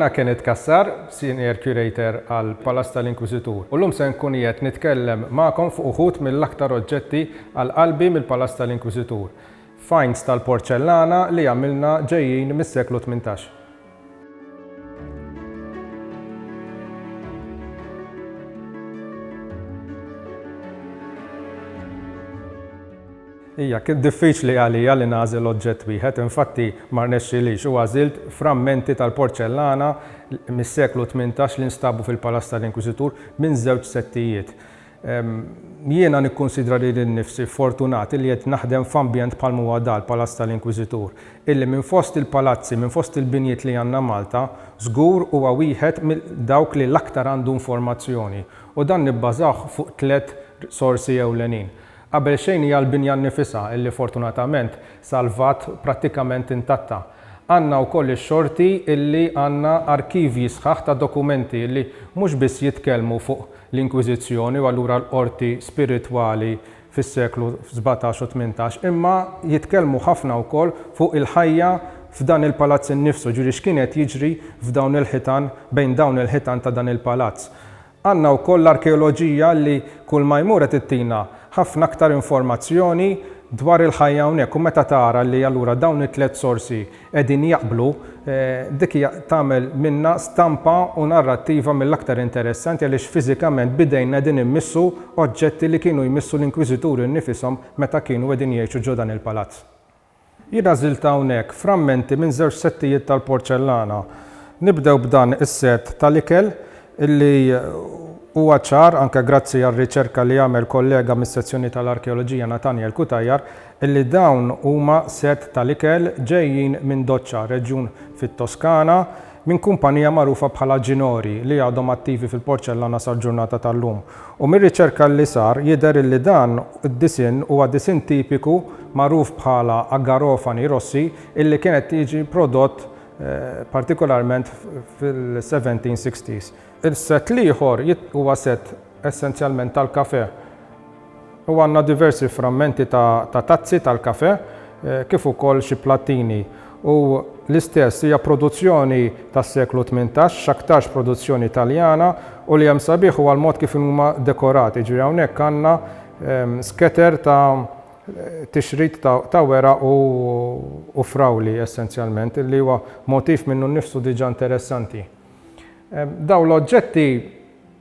Jina Kenneth Kassar, Senior Curator għal Palas tal-Inkwiżitur. U llum se nkun qiegħed nitkellem magħkom fuq uħud mill-aktar oġġetti għal qalbi mill-Palas tal-Inkwiżitur. Finds tal-porċellana li għamilna ġejjin mis-seklu tmintax. Hija kien diffiċli għalija li nagħżel oġġett wieħed, infatti ma rnexxilix u għażilt frammenti tal-porċellana mis-seklu tmintax li nstabu fil-Palazz tal-Inkwiżitur minn żewġ settijiet. Jiena nikkunsidra lili nnifsi fortunat illi qed naħdem f'ambjent bħalma huwa da, l-Palazz tal-Inkwiżitur, illi minn fost il-palazzi, minn fost il-binjiet li għandna Malta, żgur huwa wieħed minn dawk li l-aktar għandu informazzjoni, u dan nibbażawh fuq tliet sorsi ewlenin. Qabel xejn hija l-binja nnifisha illi fortunatament salvat prattikament intatta. Għandna wkoll ix-xorti illi għandna arkivji sħaħ ta' dokumenti illi mhux biss jitkellmu fuq l-Inkwiżizzjoni u allura l-qorti spiritwali fis-seklu sbatax u tmintax, imma jitkellmu ħafna wkoll fuq il-ħajja f'dan il-palazz innifsu, jiġifieri x'kien qed jiġri f'dawn il-ħitan, bejn dawn il-ħitan ta' dan il-palazz. Għandna wkoll l-arkeoloġija li kull ma jmur qed ittina ħafna aktar informazzjoni dwar il-ħajja hawnhekk u meta tara li allura dawn it-tliet sorsi qegħdin jaqblu, dik hija tagħmel minna stampa u narrattiva mill-aktar interessanti għaliex fiżikament b'idejna qegħdin immissu oġġetti li kienu jmissu l-inkwiżituri nnifishom meta kienu qegħdin jgħixu ġo dan il-palazz. Jien għażilt hawnhekk frammenti minn żewġ settijiet tal-porċellana. Nibdew b'dan is-sett tal-ikel li huwa ċar, anke grazzi għar-riċerka li għamel kollega mis-sezzjoni tal-arkeoloġija Nathaniel Cutajar, Illi dawn huma sett tal-ikel ġejjin minn Doccia, reġjun fit-Toskana, minn kumpanija magħrufa bħala Ginori li għadhom attivi fil-porċellana sal-ġurnata tal-lum. U mir-riċerka li sar jidher illi dan id-disinn huwa disinn tipiku magħruf bħala a garofani rossi illi kien qed jiġi prodott partikolarment fil-1760s. Il-sett l-ieħor huwa sett essenzjalment tal-kafè. u għandna diversi frammenti ta' ta' tazzi tal-kafè kif ukoll xi plattini u l-istess hija produzzjoni tas-seklu tmintax, x'aktarx produzzjoni Taljana u li hemm sabiħ huwa l-mod kif huma dekorati, jiġifieri hawnhekk għandna sketer ta' tixrid ta' ta' weraq u u frawli essenzjalment li huwa motiv minnu nnifsu diġà interessanti. Dawn l-oġġetti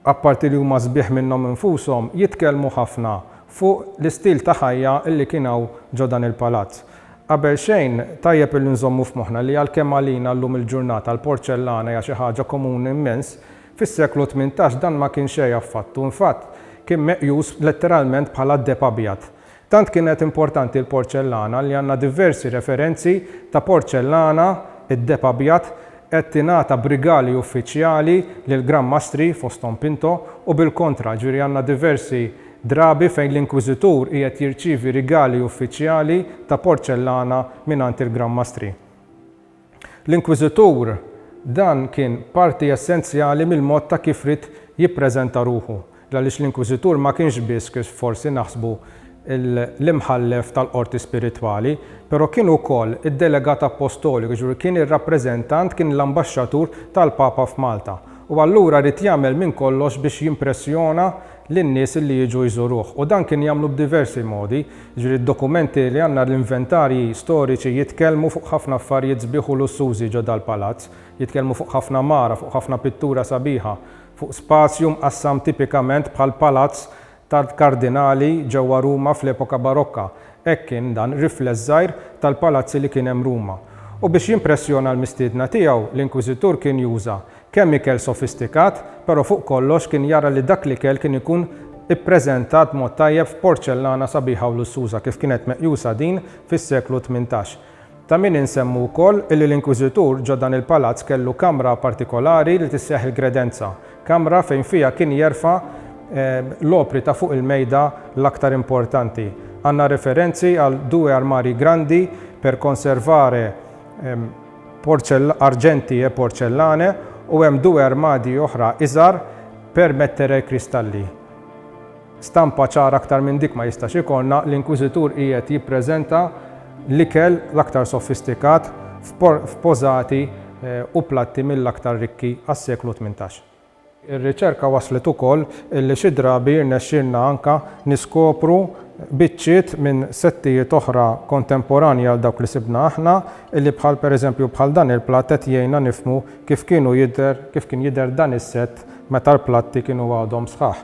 apparti li huma sbieħ minnhom infushom, jitkellmu ħafna fuq l-istil ta' ħajja li kien hawn ġo dan il-palazz. Qabelxejn, tajjeb illi nżommu f'moħħna li għalkemm għalina llum il-ġurnata l-porċellana hija xi ħaġa komuni immens, fis-seklu tmintax dan ma kien xejn affattu, infatt kien meqjus letteralment bħala deheb abjad. Tant kienet importanti l-porċellana li għandna diversi referenzi ta' porċellana, id-deheb abjad qed tingħata b'rigali uffiċjali lil Gran Mastri, fosthom Pinto, u bil-kontra, jiġifieri għandna diversi drabi fejn l-Inkwiżitur qiegħed jirċievi rigali uffiċjali ta' porċellana mingħand il-Gran Mastri. L-Inkwiżitur dan kien parti essenzjali mill-mod ta' kif ried jippreżenta ruħu, għaliex l-Inkwiżitur ma kienx biss, kif forsi naħsbu, l-imħallef tal-qorti spiritwali, però kien ukoll id-delegat appostoliku, jiġifieri kien ir-rappreżentant, kien l-ambaxxatur tal-Papa f'Malta. U allura ried jagħmel minn kollox biex jimpressjona lin-nies li jiġu jżuruh u dan kien jagħmlu b'diversi modi, jiġifieri d-dokumenti li għandna l-inventarji storiċi jitkellmu fuq ħafna affarijiet sbieħ u lussużi ġo dal-palazz, jitkellmu fuq ħafna mara, fuq ħafna pittura sabiħa, fuq spazju mqassam tipikament bħall-palazz tal-kardinali ġewwa Ruma fl-epoka barokka, hekk kien dan rifless żgħir tal-palazzi li kien hemm Ruma. U biex jimpressjona l-mistiedna tiegħu, l-inkwiżitur kien juża Kemm ikel sofistikat, però fuq kollox kien jara li dak l-ikel kien ikun ippreżentat b'mod tajjeb f'porċellana sabiħa u lussuża kif kienet meqjusa din fis-seklu tmintax. Ta' min insemmu wkoll illi l-Inkwiżitur ġo dan il-palazz kellu kamra partikolari li tisseħħ il-Gredenza, kamra fejn fiha kien jerfa' l-opri ta' fuq il-mejda l-aktar importanti. Għandna referenzi għal due armari grandi per conservare arġenti e porcellane u hemm due armadi oħra iżgħar per mettere i cristalli. Stampa ċara aktar minn dik ma jistax ikollna, l-inkwiżitur qiegħed jippreżenta l-ikel l-aktar soffistikat f'pożati u platti mill-aktar rikki għas-seklu tmintax. Ir-riċerka wasslet ukoll li xi drabi jirnexxilna anke niskopru biċċiet minn settijiet oħra kontemporanji għal dawk li sibna aħna, li bħal pereżempju bħal dan il-platt qed jgħinna nifhmu kif kienu jidher kif kien jidher dan is-sett meta l-platti kienu għadhom sħaħ.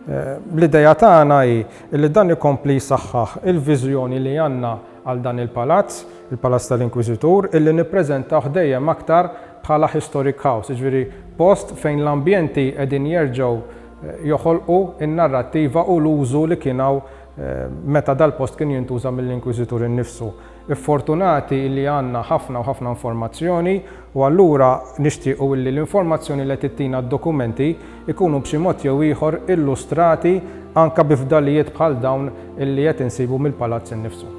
L-idea tagħna hi li dan ikompli jsaħħaħ il-viżjoni li għandna għal dan il-palazz, il-Palazz tal-Inkwiżitur, illi nippreżentawh dejjem aktar bħala historic house, jiġifieri post fejn l-ambjenti qegħdin jerġgħu joħolqu n-narrattiva u l-użu li kien hawn meta dal-post kien jintuża mill-Inkwiżitur innifsu. Ffortunati illi għandna ħafna u ħafna informazzjoni u allura nixtiequ illi l-informazzjoni li qed ittina d-dokumenti jkunu b'xi mod jew ieħor illustrati anke bi fdalijiet bħal dawn illi qed insibu mill-palazz innifsu.